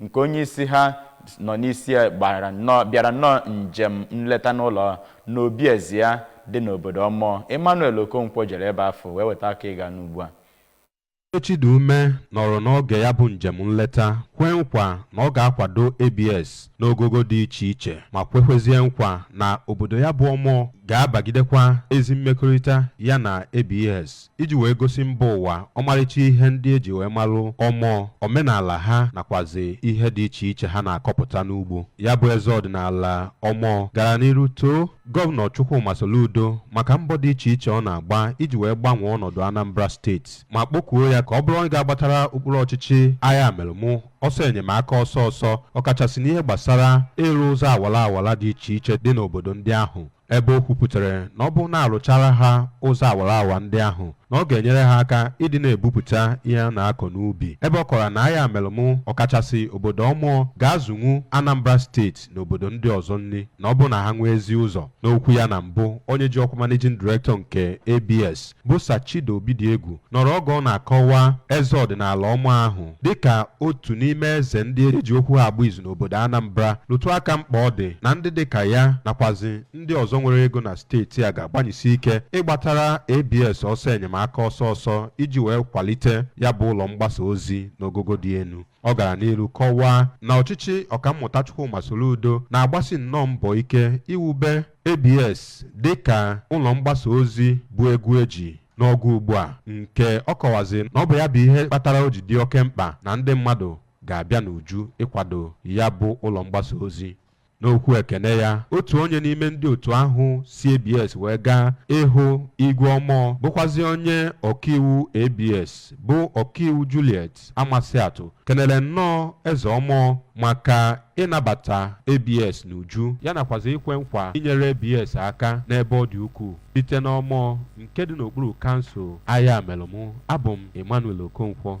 nke onye isi ha nọ n'isi ya gbara nnọọ bịara nnọọ njem nleta n'ụlọ n'obi eze ya dị n'obodo Omor Emmanuel Okonkwo jere ebe afụ wee weta ka ị ga-anụ ugbu a Eze Chidume nọrọ n'oge ya bụ njem nleta kwee nkwa na ọ ga-akwado ABS n'ogogo dị iche iche ma kwekwezie nkwa na obodo ya bụ Omor ga-abagidekwa ezi mmekọrịta ya na ABS. iji wee gosi mba ụwa ọmarịcha ihe ndị eji wee malụ Omor omenala ha nakwazi ihe dị iche iche ha na-akọpụta n'ugbo ya bụ eze ọdịnala Omor gara n'iru too gọvanọ Chukwuma Soludo maka mbọ dị iche iche ọ na-agba iji wee gbanwee ọnọdụ Anambra steeti ma kpokuo ya ka ọ bụrụ onye ga-agbatara okpuru ọchịchị Ayamelum ọsọ enyemaka ọsọ ọsọ ọkachasị n'ihe gbasara ịrụ ụzọ awara awara dị iche iche dị n'obodo ndị ahụ ebe o kwupụtara na ọ bụrụ na arụchara ha ụzọ awara awa ndị ahụ na ọ ga-enyere ha aka ịdị na-ebupụta ihe a na-akọ n'ubi ebe ọ kọrọ na Ayamelum ọkachasị obodo Omor ga-azụnwu Anambra steeti na obodo ndị ọzọ nri na ọ bụrụ na ha nwee ezi ụzọ n'okwu ya na mbụ onye ji ọkwa managing director nke ABS bụ Sir Chido Obidiegwu nọrọ oge ọ na-akọwa eze ọdịnala Omor ahụ dịka otu n'ime eze ndị e ji okwu ha agba izu n'obodo Anambra rụtụ aka mkpa ọ dị na ndị dịka ya nakwazi ndị ọzọ nwere ego na steeti a ga-agbanyesi ike ịgbatara ABS ọsọ enyemaka ọsọ ọsọ iji wee kwalite ya bụ ụlọ mgbasa ozi n'ogogo dị elu ọ gara n'iru kọwaa na ọchịchị ọkammụta Chukwuma Soludo na-agbasi nnọọ mbọ ike iwube ABS dịka ụlọ mgbasa ozi bụ egwu eji n'ọgụ ugbu a nke ọ kọwazi na ọ bụ ya bụ ihe kpatara o ji dị oke mkpa na ndị mmadụ ga-abịa n'uju ịkwado ya bụ ụlọ mgbasa ozi n'okwu ekene ya otu onye n'ime ndị otu ahụ si ABS wee gaa ịhụ Igwe Omor bụkwazi onye ọkaiwu ABS bụ ọkaiwu Juliet Alex Amasiatu kelere nnọọ eze Omor maka ịnabata ABS n'uju ya nakwazi ikwe nkwa inyere ABS aka n'ebe ọ dị ukwuu site n'Omor nke dị n'okpuru kansụl Ayamelum abụ m Emmanuel Okonkwo